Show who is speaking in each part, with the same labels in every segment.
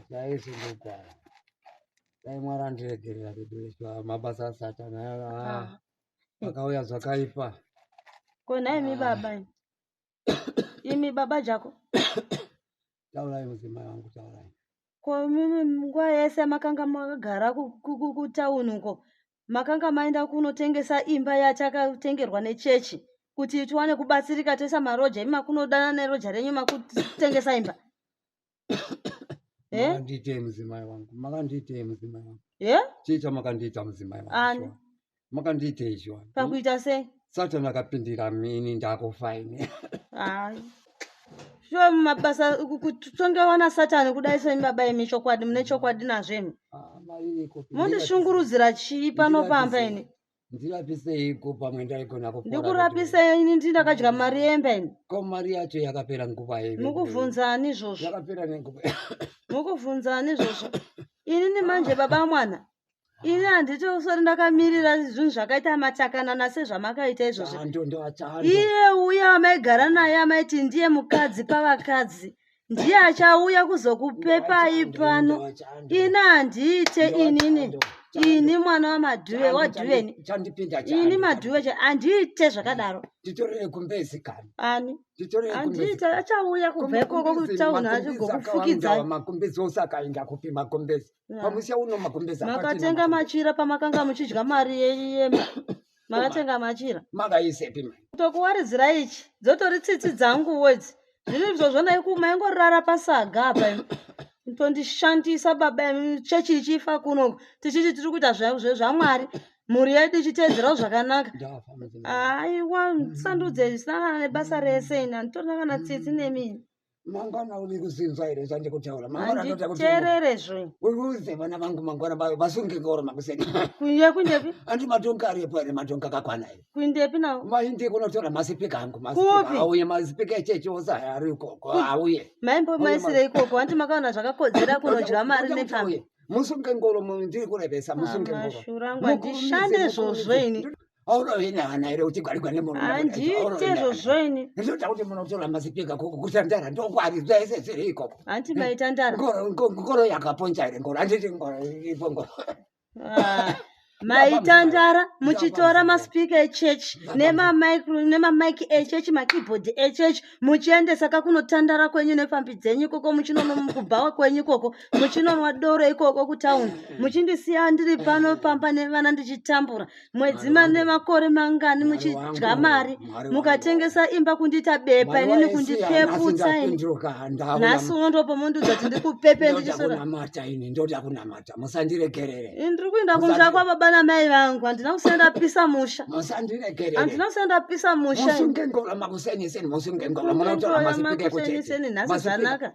Speaker 1: chaisi ndogara dai mwari andiregerera kudoiswa mabasa asatana ah. akauya zvakaipa ko
Speaker 2: nhaimi baba imi baba jako
Speaker 1: taurai mudzimai wangu taurai ko
Speaker 2: nguva yese makanga makagara kutauni uko makanga maenda kunotengesa imba yatakatengerwa nechechi kuti tiwane kubatsirika toisa maroja imi makunodana neroja renyu makutengesa imba Eh?
Speaker 1: makandiitei mudzimai wangu makandiitei mudzimai wangu Eh? chii chamakandiita mudzimai Ani. wangu shuwa? makandiitei shuwa Hmm? pakuita sei
Speaker 2: satani akapindira
Speaker 1: mini ndakufa ini hayi
Speaker 2: shuwa mumabasa kutongewa nasatani kudai semi baba imi chokwadi mune chokwadi nazvemi Ah, mari iko. mondishungurudzira chii pano pamba ini ndirapiseiko
Speaker 1: pamwe ndaigona kupora ndikurapisa ini ndi
Speaker 2: ndakadya mari yemba ini ko mari yacho
Speaker 1: yakapera nguva yei mukuvhunza ani izvozvo
Speaker 2: yakapera nenguva
Speaker 1: mukuvhunza
Speaker 2: ani izvozvo inini manje baba mwana ini handiti usori ndakamirira zvinhu zvakaita matakanana sezvamakaita izvozvo iye uye amaigara naye amaiti ndiye mukadzi pavakadzi ndiye achauya kuzokupepai pano ini handiite inini ini mwana wamadhuve wadhuveni ini madhuve cha handiite zvakadaro ani
Speaker 1: handiite
Speaker 2: achauya kubva ikoko kutauni achigokufukidzaimakumbezi
Speaker 1: makatenga machira
Speaker 2: pamakanga muchidya mari yeyema makatenga machira makaisepi mani
Speaker 1: tokuwaridzira
Speaker 2: ichi dzotori tsitsi dzanguwo idzi zviri izvozvo naiku maingorara pasaga apa imi tondishandisa baba imi chechi ichifa kuno tichiti tiri kuita zva- zve- zvamwari mhuri yedu ichiteedzerawo zvakanaka ndafa mudzimai aiwa sandudzei zvisinangana nebasa rese ini handitorina kana tsitsi nemini mangwana uri
Speaker 1: kuzinzwa here zvandikutaura mangwananditerere
Speaker 2: zve uruze vana
Speaker 1: vangu mangwana vayo vasunge ngoro makuseni kuye kundepi
Speaker 2: andi matonga aripo
Speaker 1: here matonga kakwana here kundepi nawo maindi
Speaker 2: kunotora
Speaker 1: masipika angu auye masipika
Speaker 2: echechi
Speaker 1: ose ari ikoko auye maimbo maisire
Speaker 2: ikoko andi makaona zvakakodzera kunodya mari nepfambi musunge ngoro
Speaker 1: ndiri kurevesa musunge ngoro mashura angu andishande
Speaker 2: zvozvo ini aurovina vana
Speaker 1: here uchigwarigwa nemurumeanditezvo
Speaker 2: zvoini ndinoda kuti munotora
Speaker 1: mazipika koko kuita ndara ndokwari zvese zviri ikoko hanti maita ndara
Speaker 2: ngoro
Speaker 1: yakaponja here ngoro anditi ngoro ipo ngoro ah, maita
Speaker 2: ndara muchitora maspika echechi nemamike echechi makeyboard echechi muchiendesa kakunotandara kwenyu nepfambi dzenyu ikoko muchinonomukubhawa kwenyu ikoko muchinonwa doro ikoko kutawuni muchindisiya ndiri pano pamba nevana ndichitambura mwedzi mane makore mangani muchidya mari mukatengesa imba kundita bepa inini kundipeputsa ini nhasi uno ndo pamondiudza kuti ndikupepe ndichisonamata ini
Speaker 1: ndoda kunamata musandiregerere ini ndiri kuenda kumusha
Speaker 2: kwababa namai vangu handina kusina ndapisa musha musandiregerere handina kusina ndapisa musha musunge ngoro makuseniseni
Speaker 1: musunge ngoro munotora masipike kuchete nhasi zvanaka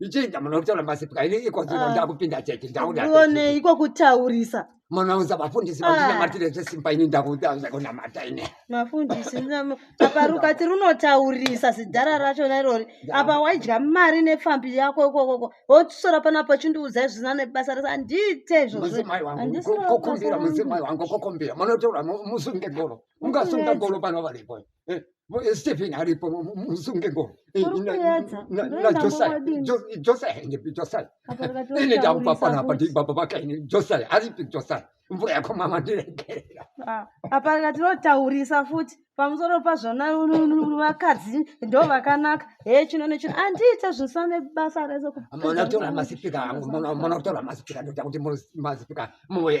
Speaker 1: ichii ndamuno kutaura masipika ini iko zvino Ah. ndakupinda chechi ndakuda ndione iko
Speaker 2: kutaurisa munounza vafundisi
Speaker 1: Ah. vandinamatire zvesimba ini ndakuda zvekunamata ini mafundisi
Speaker 2: ndinam- apa rukati runotaurisa zidhara rachona irori apa waidya mari nepfambi yako ikokoko wotusora panapa chindiudza izvina nebasa rese handiite izvozvo mudzimai wangu
Speaker 1: Handisina ku- kukumbira basa rangu. mudzimai wangu kukumbira munotaura mu- musunge golo ungasunga Kuedza. golo pano varipo Eh, eh, Stephen aripo musunge ngo eh, ini ndaupa fana apa ndibaba vakaini josai aripi josai mvura yako mama ndiregerera ah, apa
Speaker 2: ngatinotaurisa futi pamusoro pazvona vakadzi ndo vakanaka he chino nechino andiite zvinsa nebasa
Speaker 1: resomunotora masipika angu munotora masipika ndoda kuti masipika muye